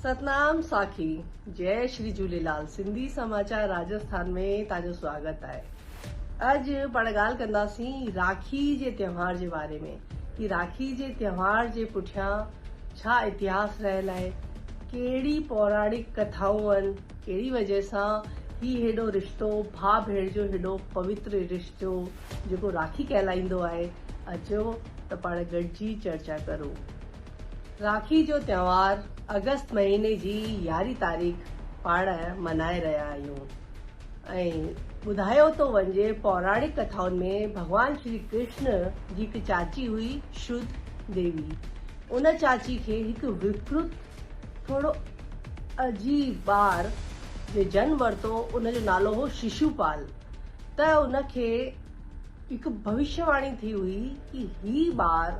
ستنام ساکي جئ شري جهوليلال سنڌي سماچار راجسٿان ۾ تان جو سواگت آهي اڄ پاڻ ڳالهه ڪنداسين راکي جي تهوار جي باري ۾ ڪي راکي جي تهوار جي پٺيان ڇا اتهاس رهيل آهي ڪهڙي پوراڻڪ ڪٿائون ان ڪهڙي وجه سان هي هيڏو رشتو ڀاء ڀيڻ جو هيڏو پوتر رشتو جيڪو راکي ڪهلائيندو آهي اچو ته پاڻ گڏجي چرچا ڪرون راکي جو تهوار اگست مهيني جي يارهين تاريخ پاڻ ملهائي رهيا آهيون ۽ ٻڌايو ٿو وڃي پوراڻڪ ڪٿائن ۾ ڀڳوان شري ڪرشن جي هڪ چاچي هئي شرڌ ديوي ان چاچي کي هڪ وڪرت ٿورو عجيب ٻار جي جنم ورتو ان جو نالو هو ششو پال ته ان کي هڪ ڀوشيواڻي ٿي هئي ڪي هي ٻار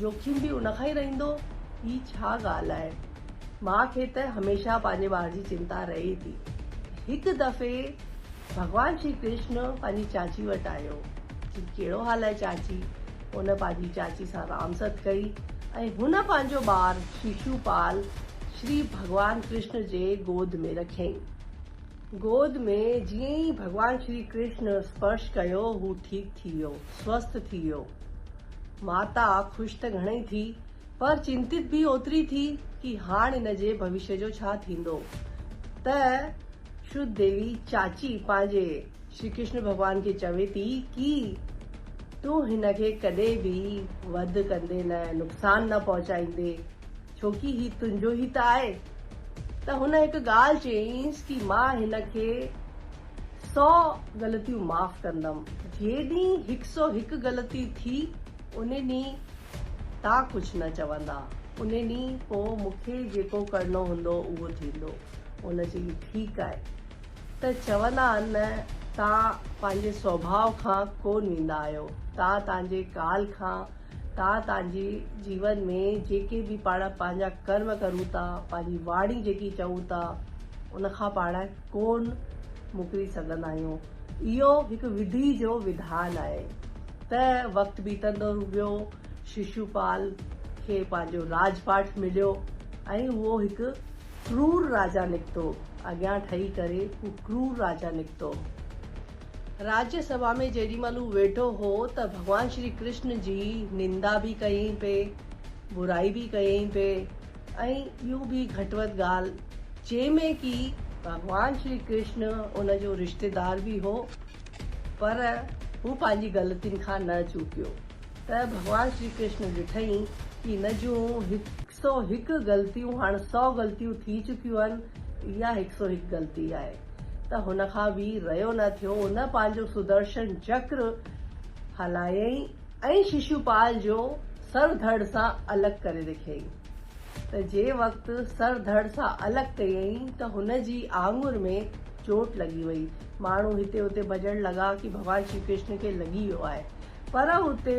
جوکيم به ان کان ئي رهندو. هي ڇا ڳالهه آهي؟ ماء کي ته هميشه پنهنجي ٻار جي چنتا رهي ٿي. هڪ دفعي ڀڳوان شري ڪرشن پنهنجي چاچي وٽ آيو. چي ڪهڙو حال آهي چاچي؟ هن پنهنجي چاچي سان رام ست ڪئي ۽ هن پنهنجو ٻار شيشوپال شري ڀڳوان ڪرشن جي گود ۾ رکيائين. گود ۾ جيئن ئي ڀڳوان شري ڪرشن اسپرش ڪيو هو ٺيڪ ٿي ويو، سوسٿ ٿي ويو. ماتا خوش ته گهڻئي ٿي پر چنتت به اوتري ٿي ڪي هاڻ ان جي ڀوشيه جو ڇا ٿيندو ته شرد ديوي چاچي پنهنجي شري ڪرشن ڀڳوان کي چوي ٿي ڪي تون هن کي ڪڏهن به وڌ ڪندي نه نقصان نه پهچائيندي. ڇوڪي هي تنهنجو ئي ته آهي. ته هن هڪ ڳالهه چيائينس ڪي مان هن کي سؤ غلطيون معاف ڪندم، جي ڏينهن هڪ سؤ هڪ غلطي ٿي ان ڏينهن تان ڪجهه نه چوندا، ان ڏينهن پوء مون کي جيڪو ڪرڻو هوندو اهو ٿيندو. هن چيو ٺيڪ آهي. ته چوندا آهن نه تان پنهنجي سوڀاء کان ڪونه ويندا آهيو، تان تنهنجي ڪال کان تان تانجي جيون ۾ جيڪي به پاڻ پانجا ڪرم ڪرون ٿا پانجي واڻي جيڪي چئون ٿا ان کان پاڻ ڪون مڪري سگهندا آهيون اهو هڪ وڌي جو وڌان آهي ته وقت بيتندو ويو ششوپال کي پانجو راج پاٺ مليو ۽ اهو هڪ ڪرور راجا نڪتو اڳيان ٺهي ڪري هو ڪرور راجا نڪتو. راجيا سڀا ۾ جيڏي مھل ھو ويٺو ھو ته ڀڳوان شري ڪرشن جي نندا به ڪيائين پئي، برائي به ڪيائين پئي ۽ ٻيون به گھٽ وڌ ڳالھ جنھن ۾ ڪي ڀڳوان شري ڪرشن ان جو رشتيدار به ھو پر ھو پنھنجي غلطين کان نه چوڪيو ته ڀڳوان شري ڪرشن ڏٺائين ڪي ھن جون ھڪ سو هڪ غلطيون هاڻ سو غلطيون ٿي چڪيون آهن اها هڪ سو هڪ غلطي آهي ته هن کان به ريو نه ٿيو هن پنهنجو سدرشن چڪر هلايائين ۽ ششوپال جو سر ڌڙ سان الڳ ڪري رکيائين ته جي وقت سر ڌڙ سان الڳ ڪيائين ته هن جي آڱر ۾ چوٽ لڳي وئي ماڻهو هتي اتي ڀڄڻ لڳا ڪي ڀڳوان شري ڪرشن کي لڳي ويو آهي پر اتي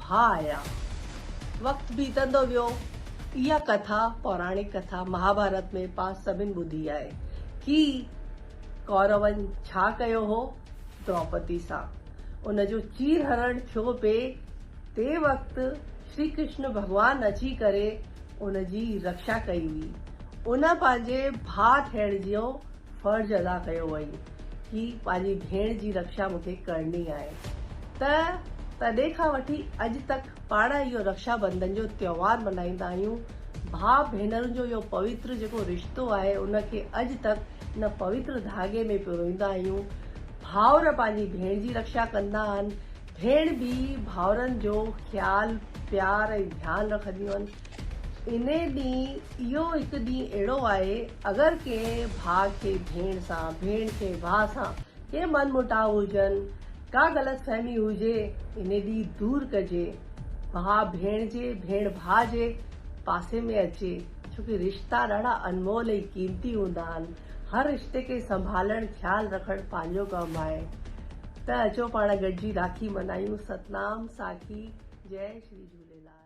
ڀا آيا. وقت بيتندو ويو. اها ڪٿا، پوراڻڪ ڪٿا، مهاڀارت ۾ پاء سڀن ٻڌي آهي. ڪي ڪورون ڇا ڪيو هو دروپدي سان. ان جو چير هرڻ ٿيو پي تي وقت شري ڪرشن ڀڳوان اچي ڪري ان جي رڪشا ڪئي هئي. ان پنهنجي ڀا ٿيڻ جو فرض ادا ڪيو وئي ڪي پنهنجي ڀيڻ جي رڪشا مون کي ڪرڻي آهي ته تڏهن کان وٺي اڄ تڪ پاڻ اهو رڪشا بندن جو تهوار ملهائيندا آهيون ڀاء ڀينرن جو اهو پويتر جيڪو رشتو آهي ان کي اڄ تڪ ان پويتر ڌاڳي ۾ پروئيندا آهيون ڀائر پنهنجي ڀيڻ جي رڪشا ڪندا آهن ڀيڻ به ڀائرن جو خيال پيار ۽ ڌيان رکنديون آهن انهي ڏينهن اهو هڪ ڏينهن اهڙو آهي اگر ڪنهن ڀاء کي ڀيڻ سان، ڀيڻ کي ڀاء سان ڪي من موٽاء هجن، ڪا غلط فهمي هجي انهي ڏينهن دور ڪجي، ڀاء ڀيڻ جي، ڀيڻ ڀاء جي پاسي ۾ اچي ڇو ڪي رشتا ڏاڍا انمول ۽ قيمتي هوندا آهن، هر رشتي کي سنڀالڻ خيال رکڻ پنهنجو ڪم آهي ته اچو پاڻ گڏجي راکي منايون ستنام ساکي جئي شري جهوليلال.